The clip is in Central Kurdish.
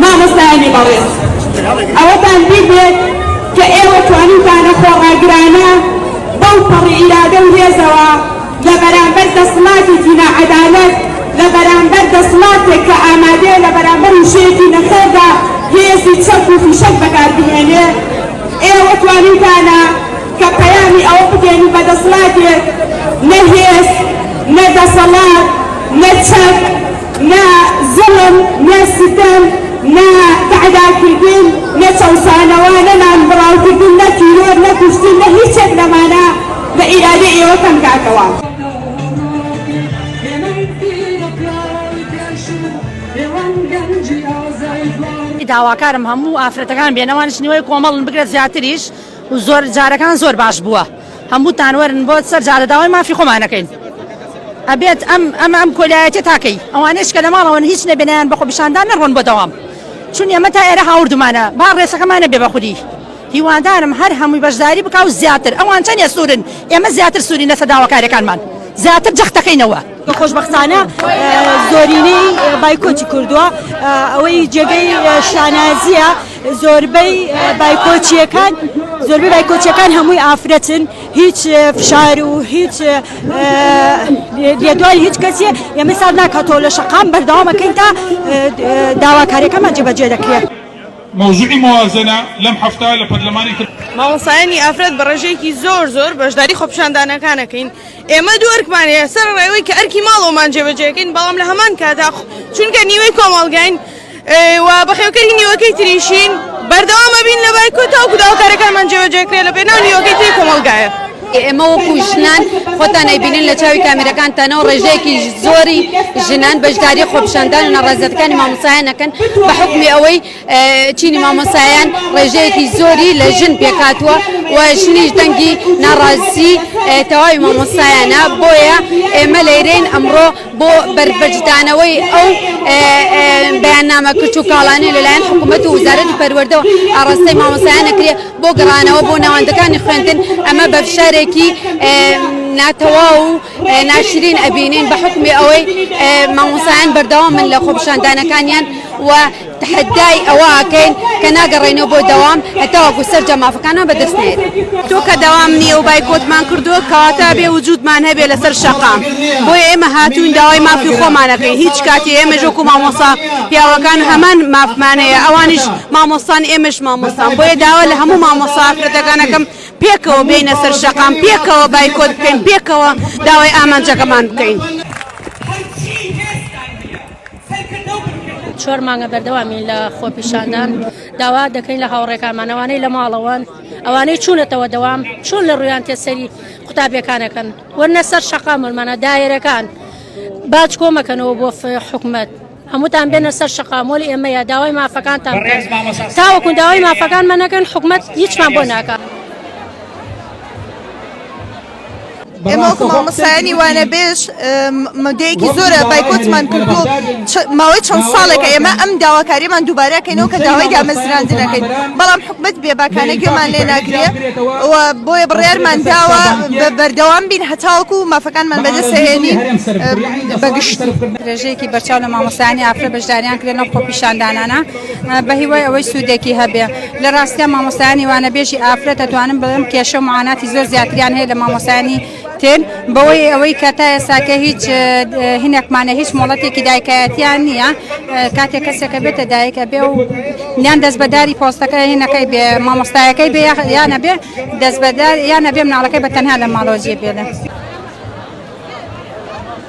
مامۆستایانی بەڕێز ئەوەتان بیر بێت کە ئێوە توانیتانە خۆڕاگرانە بەو پەڕی ئیرادە و هێزەوە لە بەرامبەر دەسڵاتێکی ناعەدالەت لە بەرامبەر دەسڵاتێک کە ئامادەیە لە بەرامبەر وشەیەکی نەخێردا هێزی چەک و فیشەک بەکاربهێنێ ئێوە توانیتانە کە پەیامی ئەوە بدەین و بە دەسڵاتێک نە هێز، نە دەسەڵات، نە چەک، نە زوڵم، نە ستەم، نە تەعداکردن، نە چەوسانەوە، نە نانبڕاوکردن، نە تیرۆر، نە کوشتن، نە هیچێک لەمانە لە ئیرادەی ئێوە کەم کاتەوە. داواکارم هەموو ئافرەتەکان بێنە وانیش نیوەی کۆمەڵن بگرە زیاتریش. و زۆر جارەکان زۆر باش بووە هەمووتان وەرن بۆ سەر جادە داوای مافی خۆمان ئەکەین ئەبێت ئەم ئەمە ئەم کۆلایەتێ تاکەی ئەوانەیش کە لە ماڵەوەن هیچ نەبێنیان بە خۆپیشاندان نەڕۆن بۆ دەوام چون ئێمە تا ئێرە هاوردمانە با ڕێسەکەمان نەبێ بە خودی هیوادارم هەر هەمووی بەشداری بکا و زیاتر ئەوان چەندێ سوورن ئێمە زیاتر سوورین لەسەر داواکاریەکانمان زیاتر جەختەکەینەوە. کە خۆشبەختانە زۆرینەی بایکۆتی کردووە ئەوەی جێگەی شانازیە زۆربەی بایکۆچیەکان زۆربەی بایکۆچەکان هەمووی ئافرەتن هیچ فشار و هیچ لێدوای هیچ کەسیە ئێمە سار ناکاتەوە لە شەقام بەردەوامەکەین تا داواکاریەکەمان جێبەجێ دەکرێت. مەوزوعی موازەنە لەم هەفتە لە پەرلەمانی تر. مامۆستایانی ئافرەت بە ڕێژەیەکی زۆر زۆر بەشداری خۆپیشاندانەکان ئەکەین. ئێمە دوو ئەرکمان هەیە، سەرەڕای ئەوەی کە ئەرکی ماڵەوەمان جێبەجێ دەکەین، بەڵام لە هەمان کاتدا چونکە نیوەی کۆمەڵگاین و بەخێوکەری نیوەکەی تریشین، بەردەوام ئەبین لە بایکۆت تاوەکو داوا کارەکانمان جێبەجێ بکرێت لە پێناو نیوەکەی تری کۆمەڵگایە. ئێمە وەکو ژنان، خۆتان ئەیبینن لە چاوی کامیرەکان تەنەو ڕێژەیەکی زۆری ژنان بەشداری خۆپیشاندان و ناڕەزایەتەکانی مامۆستایان ئەکەن بە حوکمی ئەوەی، چینی مامۆستایان ڕێژەیەکی زۆری لە ژن پێکاتوە و ژنیش دەنگی ناڕازی تەواوی مامۆستایانە بۆیە ئێمە لەیرین ئەمڕۆ بۆ بەربەجدانەوەی ئەو بەیاننامە کچ و کاڵانێ لەلایەن حکوومەت و وزارەتی پەروەردەوە ئاڕاستەی مامۆستایانە کرێ بۆ گەڕانەوە بۆ ناوەندەکانی خوێندن ئەمە بەفشارێکی ناتەواو و ناشرین ئەبینین بە حوکمی ئەوەی مامۆسایان بەردەوامن لە خۆپیشاندانەکانیان و تحدای ئەوە ئاکەین کە ناگەڕێنەوە بۆ دەوام هەتاوەکو سەرجە مافەکانمان بەدەست نێت تۆکە دەوام نییە و بایکۆتمان کردووە کەواتە ئەبێ وجودمان هەبێ لەسەر شەقام بۆیە ئێمە هاتوین داوای مافی خۆمانەکەین هیچ کاتی ئێمە ژۆکو مامۆسا پیاوەکان هەمان مافمانەیە ئەوانیش مامۆستان ئێمەش مامۆستان بۆیە داوا لە هەموو مامۆسا ئافرەتەکانەکەم پێکەوە بێینە سەر شەقام، پێکەوە بایکۆت بکەین، پێکەوە داوای ئامانجەکەمان بکەین. چوار مانگە بەردەوامین لە خۆپیشاندان، داوا دەکەین لە هاوڕێکانمان ئەوانەی لە ماڵەوەن، ئەوانەی چوونەتەوە دەوام چۆن لە ڕوویان تێ سەری قوتابیەکانەکەن وەرنە سەر شەقام، وەرمانە دایرەکان باج کۆمەکەنەوە بۆ حکومەت. هەمووتان بێنە سەر شەقامۆل ئێمەیە داوای مافەکانتان تاوەکو داوای مافەکانمە نەکەن حکومت هیچمان بۆ ناکە. ئێمە مامەسایانی وانە بێژ مدەیەکی زۆرە بایکۆتمان کردو ماوەی چەند ساڵێکە ئێمە ئەم داواکاریمان دووبارەکەینەوە کە داوای دامەزراندنەکەین بەڵام حکومت بێباکانە گوێمان لێ ناگرێ بۆیە بڕێرمان داوە بەردەوام بین هەتاوەکو مافەکانمان بەدەسەهێنین بەگشت. درێژەیەکی بەرچاو لە مامۆستایانی ئافرە بەشداریان کردە لەم خۆپیشاندانانە بە هیوای ئەوەی سوودێکی هەبێ لە ڕاستیا مامۆستایانی وانەبێژی ئافرە دەتوانم بڵێم کێشە و معاناتی زۆر زیاتریان هەیە لە مامۆستایانی تر بەوەی ئەوەی کە تا ئێساکە هیچ هینەکمانە هیچ مۆڵەتێکی دایکایەتیان نییە کاتێک کەسێکە بێتە دایکە بێ و یان دەست بەداری پۆستەکە هینەکەی بێ مامۆستایەکەی بێ یانە بێ دەست بەدار یانە بێ مناڵەکەی بە تەنها لە ماڵۆزیە بێنە.